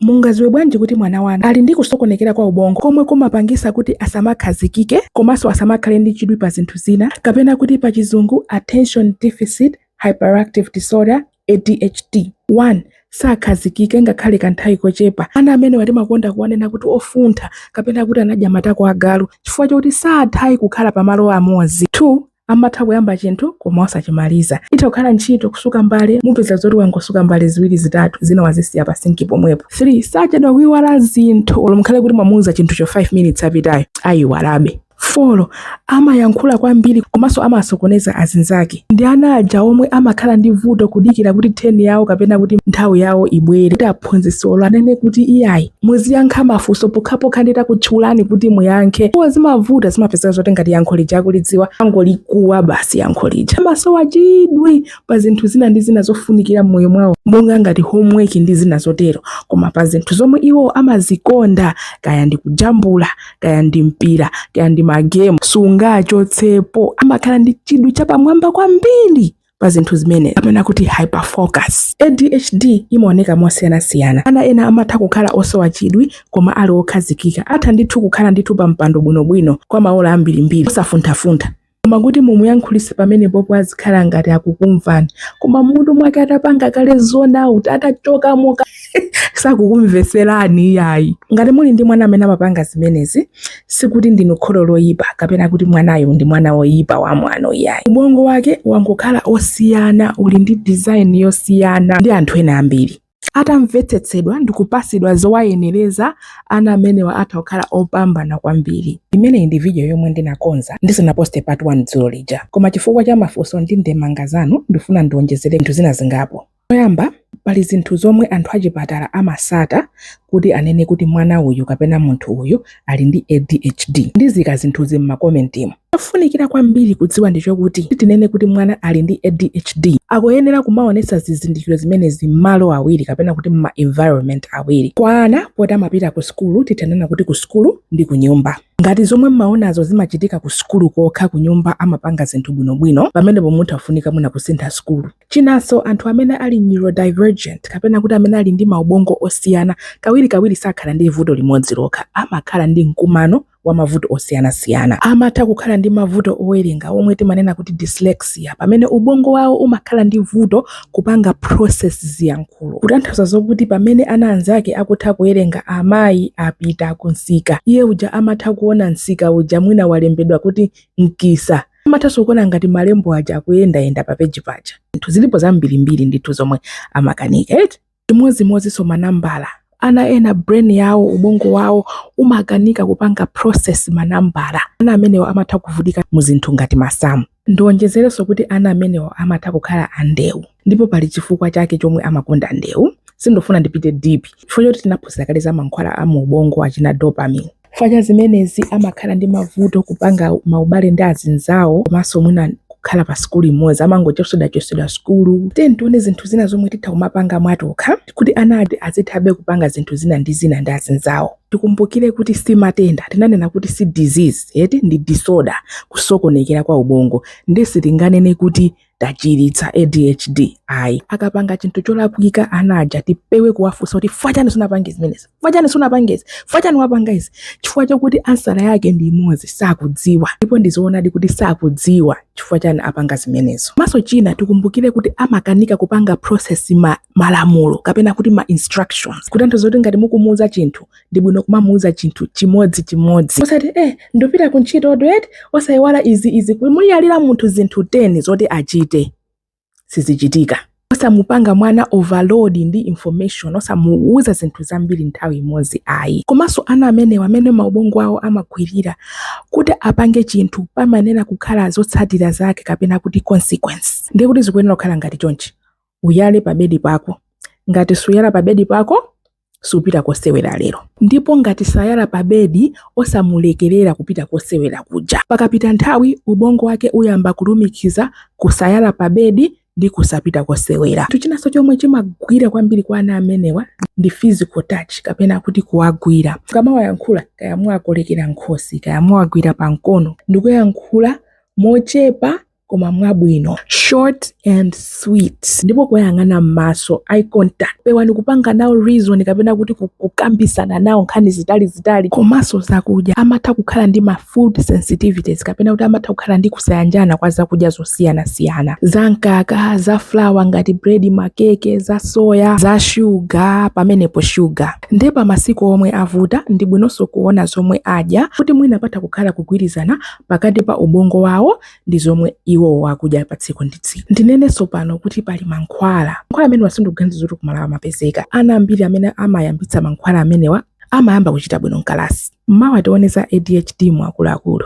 Mungadziwe bwanji kuti mwana wanu ali ndi kusokonekera kwa ubongo komwe kumapangisa kuti asamakhazikike komanso asamakhale ndi chidwi pa zinthu zina kapena kuti pa chizungu Attention Deficit Hyperactive Disorder, ADHD. 1, Sakhazikika ngakhale kanthawi kochepa. Ana amenewa timakonda kuwanena kuti ofuntha kapena kuti anadya matako a galu chifukwa chokuti satha iyayi kukhala pa malo amodzi. 2, amatha kuyamba chinthu koma osachimaliza. Itha kukhala ntchito, kusuka mbale, mupeza zoti wangosuka mbale ziwiri zitatu, zina wazisiya pa sinki pomwepo. 3 sachedwa kuiwala zinthu olo mukhale kuti mwamuuza chinthucho 5 minutes apitayo, aiwalabe. 4 amayankhula kwambiri komanso amasokoneza azinzake ndi ana aja omwe amakhala ndi vuto kudikira kuti turn yawo kapena kuti nthawi yawo ibwere. phunzitsi olo anene kuti iyayi muziyankha mafunso pokhapokha nditakutchulani kuti muyankhe iwo zimavuta zimapezeka zoti ngati yankho lija akulidziwa angolikuwa basi yankho lija amasowa chidwi pa zinthu zina ndi zina zofunikira m'moyo mwawo monga ngati homework ndi zina zotero koma pa zinthu zomwe iwo amazikonda kaya ndi kujambula kaya ndi mpira kaya ndi magemu sungawachotsepo amakhala ndi chidwi chapamwamba kwambiri pa zinthu zimenezi kapena kuti hyperfocus. ADHD imaoneka mosiyanasiyana. Ana ena amatha kukhala osowa chidwi koma ali okhazikika. Atha ndithu kukhala ndithu pa mpando bwinobwino kwa maola ambirimbiri osafunthafuntha. Koma kuti mumuyankhulitse pamenepopo azikhala ngati akukumvani, koma m'mutu mwake atapanga kale zone out, atachokamo ka. sakukumveserani iyayi ngati muli ndi mwana amene amapanga zimenezi sikuti ndinu kholo loyipa kapena kuti mwanayo ndi mwana woyipa wa mwano iyayi ubongo wake wangokhala osiyana uli ndi design yosiyana ndi anthu ena ambiri atamvetsetsedwa ndi kupasidwa zowayenereza ana amenewa atha kukhala opambana kwambiri imeneyi ndi vidiyo yomwe ndinakonza ndisanaposte part 1 dzulo lija koma chifukwa cha mafunso ndi ndemanga zanu ndifuna ndiwonjezere zinthu zina zingapo Choyamba, pali zinthu zomwe anthu achipatala amatsata kuti anene kuti mwana uyu kapena munthu uyu ali ndi ADHD. Ndiziika zinthuzi m'makomentimu. Chofunikira kwambiri kudziwa ndichokuti kuti tinene kuti mwana ali ndi ADHD, akuyenera kumaonetsa zizindikiro zimenezi m'malo awiri kapena kuti m'ma environment awiri. Kwa ana, poti amapita ku sukulu, titha kunena kuti ku sukulu ndi kunyumba. Ngati zomwe mmaonazo zimachitika ku sukulu kokha, kunyumba amapanga zinthu bwinobwino, pamenepo mutha afunika mwina kusintha sukulu. Chinanso, anthu amene ali neurodivergent, kapena kuti amene ali ndi maubongo osiyana, kawirikawiri sakhala ndi vuto limodzi lokha, amakhala ndi mkumano wa mavuto osiyanasiyana. Amatha kukhala ndi mavuto owerenga, omwe timanena kuti dyslexia, pamene ubongo wawo umakhala ndi vuto kupanga process ziyankhulo. Kutanthauza zokuti pamene ana anzake akutha kuwerenga Amayi apita kumsika, iye uja amatha kuona msika uja mwina walembedwa kuti mkisa. Amathanso kuona ngati malembo aja akuyendayenda pa peji paja. Zinthu zilipo zambirimbiri ndithu zomwe amakanika eti. Chimodzimodzinso manambala. Ana ena brain yawo, ubongo wawo umakanika kupanga process manambala. Ana amenewa amatha kuvutika mu zinthu ngati masamu. Ndiwonjezerenso kuti ana amenewa amatha kukhala andewu ndipo pali chifukwa chake chomwe amakonda ndewu. Sindifuna ndipite deep chifukwa choti tinaphunzira kale za mankhwala a mu ubongo achina dopamine. Chifukwa cha zimenezi amakhala ndi mavuto kupanga maubale ndi azinzawo komanso mwina kukhala pa sukulu imodzi amangochosedwachosedwa sukulu tiyeni tione zinthu zina zomwe titha kumapanga mwatokha kuti ana ana aja azithabe kupanga zinthu zina ndi zina ndi azinzawo tikumbukire kuti si matenda tinanena kuti si disease eti ndi disorder kusokonekera kwa ubongo nde sitinganene kuti tachiritsa adhd ayi akapanga chinthu cholakwika ana aja tipewe kuwafunsa kuti chifukwa chani sunapange zimenezi chifukwa chani sunapange izi chifukwa chani wapanga izi chifukwa chokuti ansala yake ndi imodzi sakudziwa ndipo ndizoonadi kuti sakudziwa chifukwa chani apanga zimenezo komanso china tikumbukire kuti amakanika kupanga process malamulo kapena kuti ma instructions kutanthauza kuti ngati mukumuuza chinthu ndi bwino kumamuuza chinthu chimodzi chimodzi osati eh ndapita ku ntchito Odet osayiwala izi izi kumuyalira munthu zinthu 10 zoti achite sizichitika osamupanga mwana overload ndi information osamuuza zinthu zambiri nthawi imodzi ayi komanso ana amenewa mmene maubongo awo amagwirira kuti apange chinthu pamayenera kukhala zotsatira zake kapena kuti consequence ndiye kuti zikuyenera kukhala ngati chonchi Uyale pa bedi pako. Ngati suyala pa bedi pako, supita kosewera lero. Ndipo ngati sayala pa bedi, osamulekerera kupita kosewera kuja. Pakapita nthawi, ubongo wake uyamba kulumikiza kusayala pa bedi ndi kusapita kosewera. Chinthu chinanso chomwe chimagwira kwambiri kwa ana amenewa ndi physical touch kapena kuti kuwagwira. Ukamawayankhula kaya muwakolekera m'khosi kaya muwagwira pa mkono ndi kuyankhula mochepa koma mwabwino short and sweet ndipo kuwayang'ana m'maso eye contact pewani kupanga nawo reason kapena kuti kukambisana nawo nkhani zitali zitali komanso zakudya amatha kukhala ndi ma food sensitivities kapena kuti amatha kukhala ndi kusayanjana kwa zakudya zosiyanasiyana za mkaka za flour ngati bread makeke za soya za shuga pamenepo shuga nde pa masiku omwe avuta ndi bwinonso kuona zomwe adya kuti mwina patha kukhala kugwirizana pakati pa ubongo wawo ndi zomwe iwowo akudya pa tsiku ndi tsiku. Ndinenenso pano kuti pali mankhwala. Mankhwala amenewa sindikuganiza zoti ku Malawi amapezeka. Ana ambiri amene amayambitsa mankhwala amenewa amayamba kuchita bwino mkalasi. Mmawa tione za ADHD mu akuluakulu.